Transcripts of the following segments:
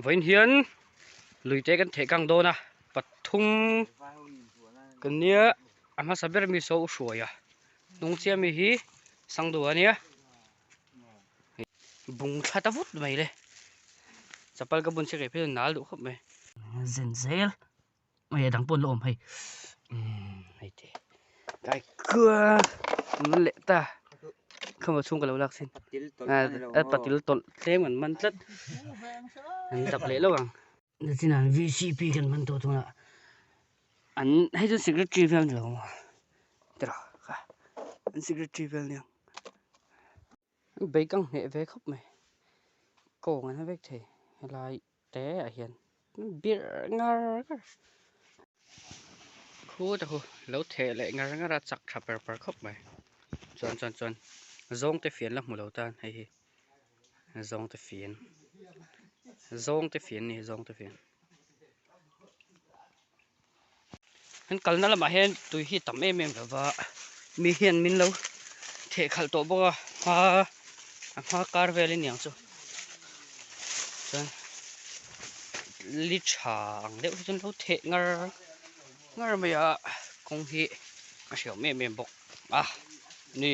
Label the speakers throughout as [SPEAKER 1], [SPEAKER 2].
[SPEAKER 1] vawiin hian lui te kan theh kang dawn a pathum kan nia a hmasa ber mi saw u hruai a hnung chiah mi hi sangdu a nia bung tha ta vut mai le chapal ka bun si rep hian nal duh khawp mai zen zel. Ui a dang pawn la awm hei. Umm hei te. Kai kua ngun leh ta. Kha ma chung ka lo lak sin. A patil tawlh tlem kan man tlat. An tak leh lo ang. Na chin an VCP kan man tawh tuna. An hei chu secretary vel ni lo ang. Tira ka. An secretary vel nia. Bag a ngheh ve khawp mai. Kawng an vek thei helai teah hian birh ngar ngar. Khut a hu lo theh leh ngar ngar a chak tha per per khawp mai. Chuan chuan chuan zawngte fian la hmu lo tan hei hi zawngte fian zawngte fian a ni zawngte fian. An kalna lamah hian tui hi tam em em lo va, mi hian min lo theh khalh tawh bawk a, hma a hma kar vel a niang chu chuan li tha ang deuh hi chuan lo theh ngar ngar mai a, kawng hi a hriam em em bawk a ni.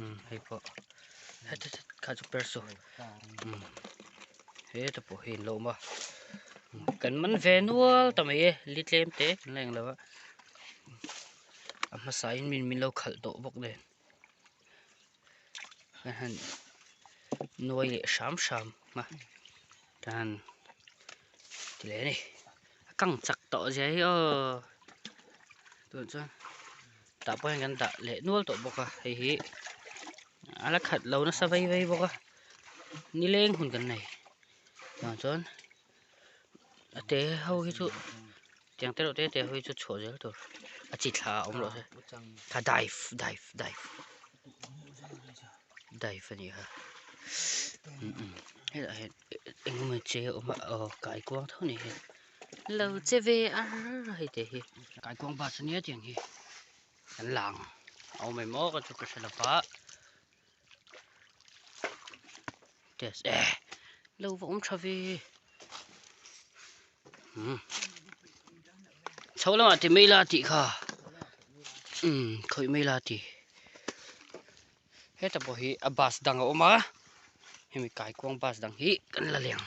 [SPEAKER 1] umm hei pawh hei chhawt chhawt kha chu perso umm he te pawh hi inlo awm a kan man ve nual ta mai e li tlem te kan la eng lo a a hmasa in min min lo khalh tawh bawk nen haihan nuai leh hram hram a tan ti leh a ni a kang chak tawh ziah hi aw tun chuan. tah pawh hian kan dah leh nual tawh bawk a hei hi a la khat lo nasa vei vei bawk a ni leng hun kan nei ah chuan a te ho hi chu tiang te reuh te te ho hi chu chhuah zel tur a chi thla a awm loh se kha dive dive dive dive a ni kha hei lah hian engemaw che a awm a aw kaikuang tho a ni hian. Lo che ve a hei te hi. Kaikuang bus a nia tiang hi kan la ang a awm em aw ka chu ka hre lo va test e lo va awm tha ve um chho lamah ti mai la tih kha um khawih mai la ti heta pawh hi a bus dang a awm a hemi kaikuang bus dang hi kan la leh ang.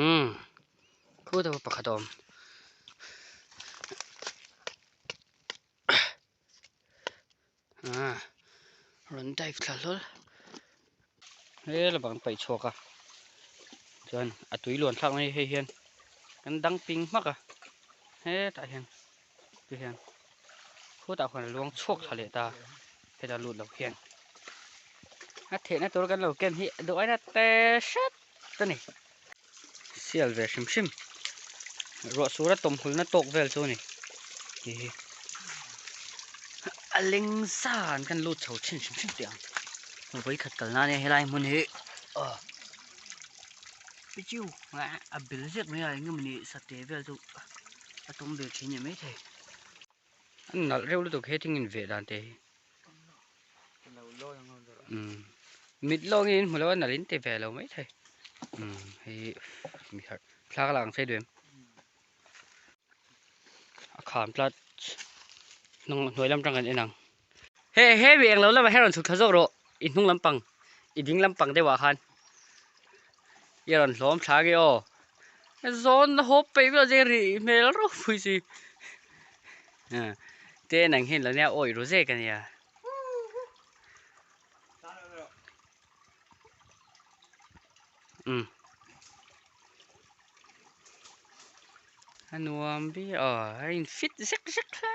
[SPEAKER 1] Umm thu deuh pakhat a awm ah rawn dive thla hlawl hela bang an paih chhuak a chuan a tui luan thlak mai hei hian kan dang ping hmak a hetah hian. te hian khutah khuan a luang chhuak thla leh ta heta lut loh hian a thehna tur kan lo ken hi a duh aina te hret a ni sial ve hrim hrim ruah sura tawmhulna tawk vel chu a ni hei hi a leng zan kan lut chho thin hrim hrim teh ang hmu vei khat kalna ania helai hmun hi ah pichiu a bil ziak mai a eng nge mawni sate vel chu-- a tum ve thin em maithei a nalh reuh lutuk he thing in veh dan te hi umm mit lawng in hmu lo a nalh in ti ve lo maithei umm hei hi mi khat thla ka la ang sei duh em a kham tlat hnung hnuai lam tang kan en ang. He he mi englo lama he rawn chhuk thla zawk rawh i hnung lampang i ding lampang deuhah khan i rawn hlawm thla nge aw. Zawn a hawp peih vel zing rih hmel rau phui si. Te nang hian lo nia awih ru zek a nia. Um. Anuam bi a in fit zek zek hle.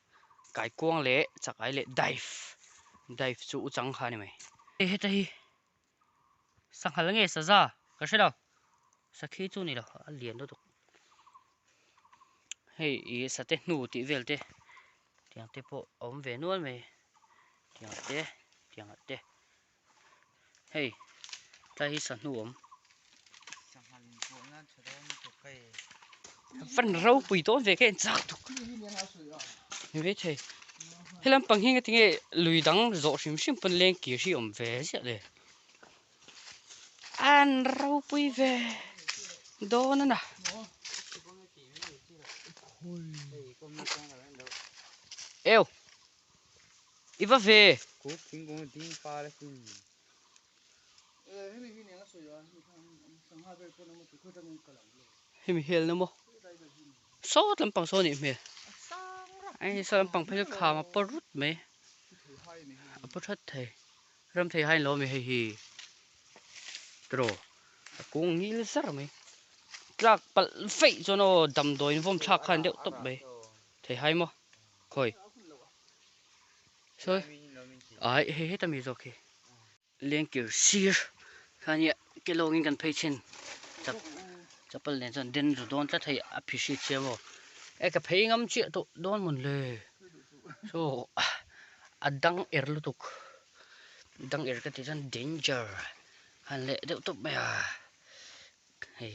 [SPEAKER 1] kaikuang leh chakai leh dive dive chu u chang kha a ni mai e heta hi sanghal nge saza ka hrelo sakhi chu nilo a lian lutuk hei i sate hnu tih vel te tiang te pawh a awm ve nual mai tiang te tiang te. Hei, tlai hi sahnu awm. Sanghan pawh nan tha dawn ni tawh kai. Van ropui dawn ve kha en chak tuk. Ni ve thei. He lampang hi ngatinge lui dang zawh hrim hrim pawn leng kir hi awm ve ziah le. An ropui ve dawn ana. Eo. I va ve. Kuk thingkung ding par a sin. Eh, hemi hi nen a sawi a, hemi khan sangha ber pawn a awm a, tukhuai tangin ka lang lo. Hemi hel na maw? Sawt lampang saw a nih hmel. A sang rak. Ai ni sa lampang phel hi kham a pawr rut mai. Pu thei hai a ni hei hi. A pu that thei. Ram thei hai lo a mi hei hi. Tro. A kung ngil zar mai. Tlak palh feih chuan aw damdawiin vawm thlak khan deuh tawp mai. Thei hai maw? Khawi. Sawi. Ai hei heta mi zawk hi. Lengkir sir kha nia ke lawngin kan phei thin chap chapal nen chuan den ru dawn tlat hei a phishi thiam aw e ka phei ngam chiah tawh dawn mun le saw a dang er lutuk dang er ka tih chuan danger han leh deuh tawp mai a. Hei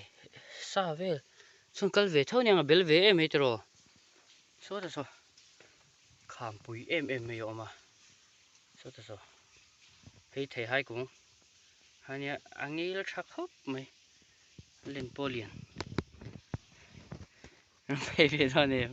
[SPEAKER 1] sa vel chhung kal ve tho nia bel ve em hetero saw ta saw kham pui em em mai a awm a saw ta saw hei thei hai kung hania a ngil tha khawp mai len pawh lian ram phei ve dawn em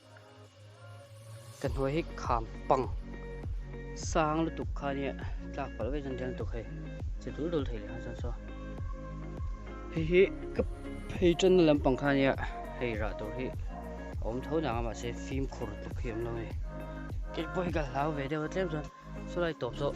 [SPEAKER 1] Ka hnuai hi kham pang sang lutuk kha nia tlak palh vek chuan riang tuk hei che dul dul thei leh chuan saw hei hi ka phei tan na lampang kha nia hei rah tur hi awm tho nang a mahse fim khur tuk hi awm lo a ni kei pawh hi ka hlau ve deuh a tlem chuan saw lai tawp zawh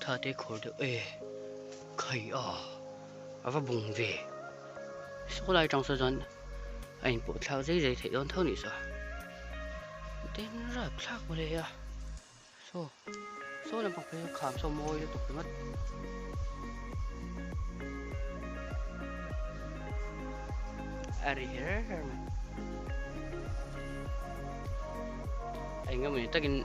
[SPEAKER 1] Thate khawr deuh e, khai a, a va bung ve. Saw lai tang saw chuan a in pawh thlak zai zai theih dawn tho ni saw. Tin rat thlak mawle a, saw, saw lampang phei saw kham saw mawi lutuk ringawt. A ri her her mai. Engemaw ni takin.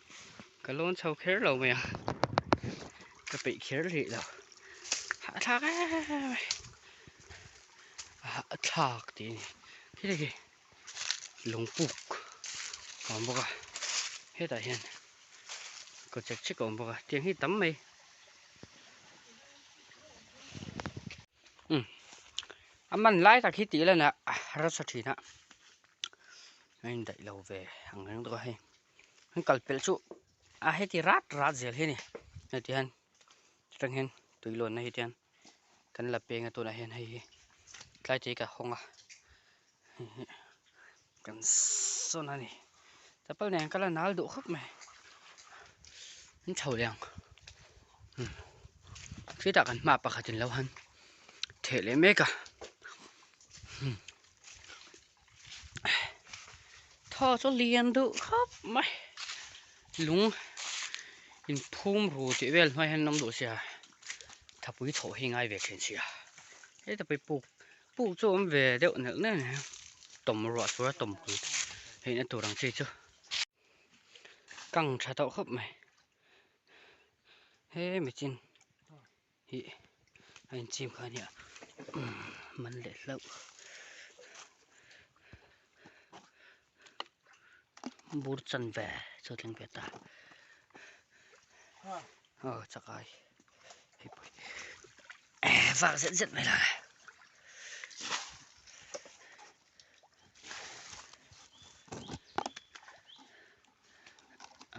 [SPEAKER 1] ka lawn chho kher lo mai a ka peih kher hlih lo a thlak em em em mai a thlak tih a ni hi lei hi lungpuk a awm bawk a hetah hian kaw chhek chhek a awm bawk a tiang hi tam mai a man lai tak hi tih la neh rasa thin a a indaih lo ve ang reng bawk a hei. An kal pelh chu a heti rat rat zel hi a ni. Heti hian chutang hian tui lawnna hi tian kan la pênga tunah hian hei hi tlai tih hi ka hawng a. Hei hi kan sawn a ni. Chapal nen ka la nal duh khawp mai. An chho liang. Hmm. Khi ta kan hma pakhatin lo han theh leh mek a. Hmm. thaw chu lian deuh khap mai lung in phum ru tih vel hnuaiah hian an awm duh sia thapui thawh hi ngai ve thin sia heta pawh hi puk puk chu a awm ve deuh nelh nelh mai a tawm ruah sura tawm hul theih na tur ang chi chu kang tha tawh khawp mai he mi chin. Hi a inchim kha ania umm man leh hlauh bur chan ve chu a tling ve ta aw chak ai hepa hi vak zet zet mai la.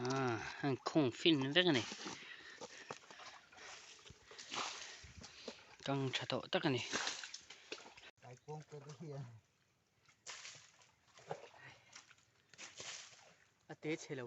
[SPEAKER 1] Ah, hang khung fin vek ani. Kang tha tawh tak ani. Ai kong pe te hian. A te chhe lo.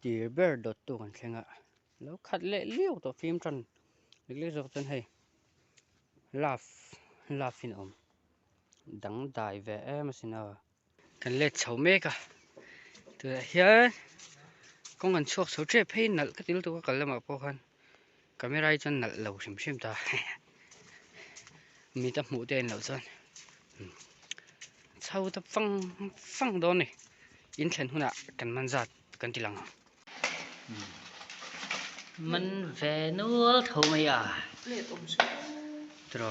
[SPEAKER 1] tir ber dawt tu kan thleng a lo khat leh liau tawh fimtan dik dik zawk chuan hei love love in awm dangdai ve em a sino kan let chho mek a tunah hian kawng an chhuak chho tep phei nalh ka ti lutuk a kal lamah pawh khan. Camera hi chuan nalh lo hrim hrim ta mite hmuh te in lo chuan chho ta fang fang dawn ni in thlen huna kan man zat kan ti lang man ve nual tho mai a tro